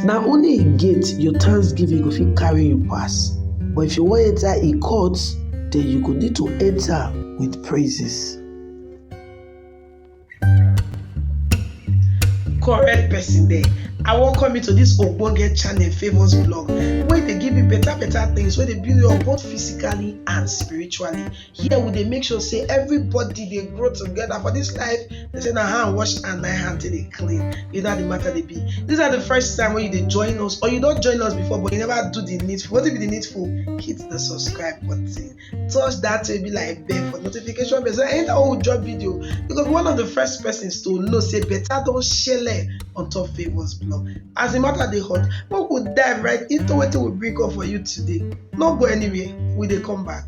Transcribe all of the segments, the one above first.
Na only im gate your thanksgiving go fit carry you pass, but if you wan enter im court, then you go need to enter with praises. correct person there i welcome you to this ogbonge channel famous blog wey dey give you better better things wey dey build you up both physically and spiritually here we dey make sure say everybody dey grow together for this life they say na hand wash and na hand take dey clean you know how the matter dey be this na the first time wey you dey join us or you don join us before but you never do the needful wetin be the needful hit the subscribe button touch that way be like bell for notification bell so anytime wey we drop video you go be one of the first persons to know say better don shele on top favours blog as the matter dey hot make we dive right into wetin we bring up for you today no go anywhere we dey come back.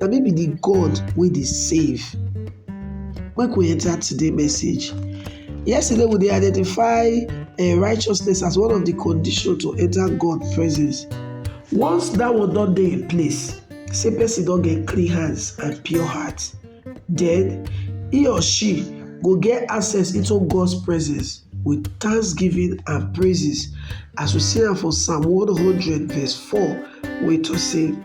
Na me be the God wey dey save. Make we enter today message. Yesterday we dey identify um righteousness as one of the condition to enter God presence. Once that one don dey in place, say person don get clean hands and pure heart, then he or she go get access into God's presence with thanksgiving and praises as we see am for Psalm 100 verse 4 wey talk say.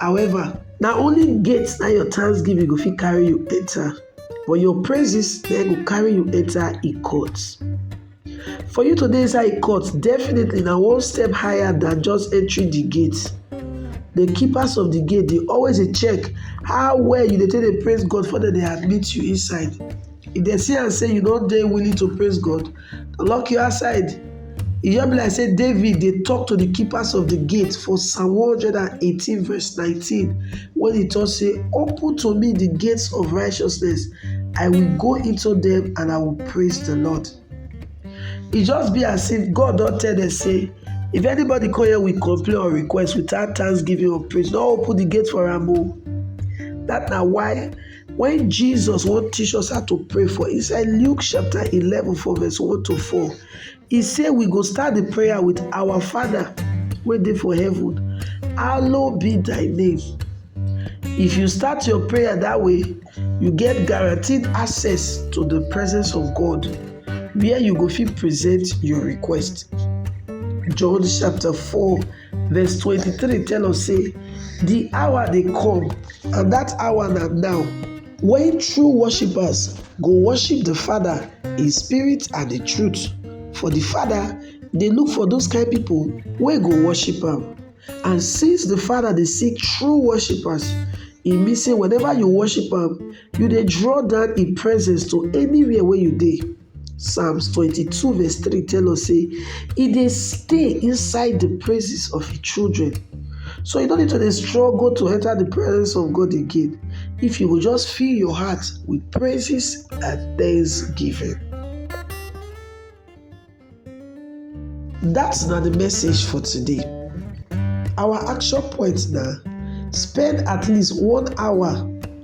However, na only gate na your thanksgiving go fit carry you enter, but your praises na go carry you enter e court. For you to dey inside e court, definitely na one step higher than just entering the gate. The keepers of the gate dey always dey check how well you dey take dey praise God before dem dey admit you inside. If dem see am say you no dey willing to praise God, Lock you outside. E just be like say David dey talk to the keepers of the gate for Psalm 118 verse 19 when he talk say, Open to me the gates of righteousness. I will go into them and I will praise the Lord. It just be as if God don't tell them say, if anybody come here with complaint or request without thanksgiving or praise, don't open the gate for am o. Oh. That na why When Jesus won't teach us how to pray for inside Luke chapter 11 for verse 1 to 4, he said we go start the prayer with our Father waiting for heaven. Hallowed be thy name. If you start your prayer that way, you get guaranteed access to the presence of God where you go fit present your request. John chapter 4 Verse 23 tell us say the hour dey come and that hour na now when true worshippers go worship the Father in spirit and in truth. For the Father dey look for those kind people wey go worship am. And since the Father dey seek true worshippers, e mean say whenever you worship am, you dey draw down im presence to anywhere wey you dey. Psalms 22 verse 3 tell us say e dey stay inside the praises of his children. So you don't need to dey struggle to enter the presence of God again if you will just fill your heart with praises and thanksgiving. That's not the message for today. Our action point now spend at least one hour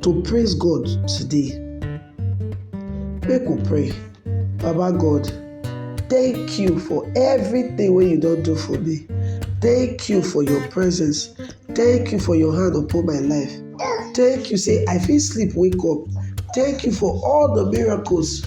to praise God today. Make we pray. Baba God, thank you for everything wey you don do for me. Thank you for your presence. Thank you for your hand upon my life. Thank you say I fit sleep wake up. Thank you for all the miracles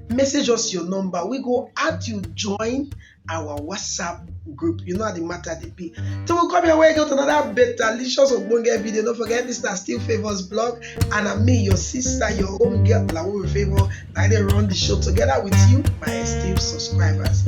message us your number we go add you join our whatsapp group you know how the matter dey be till we come your way again with another better licious ogbonge video no forget this na still favours blog and na me your sister your own girl lawo favour na i dey run the show together with you my esteemed subscribers.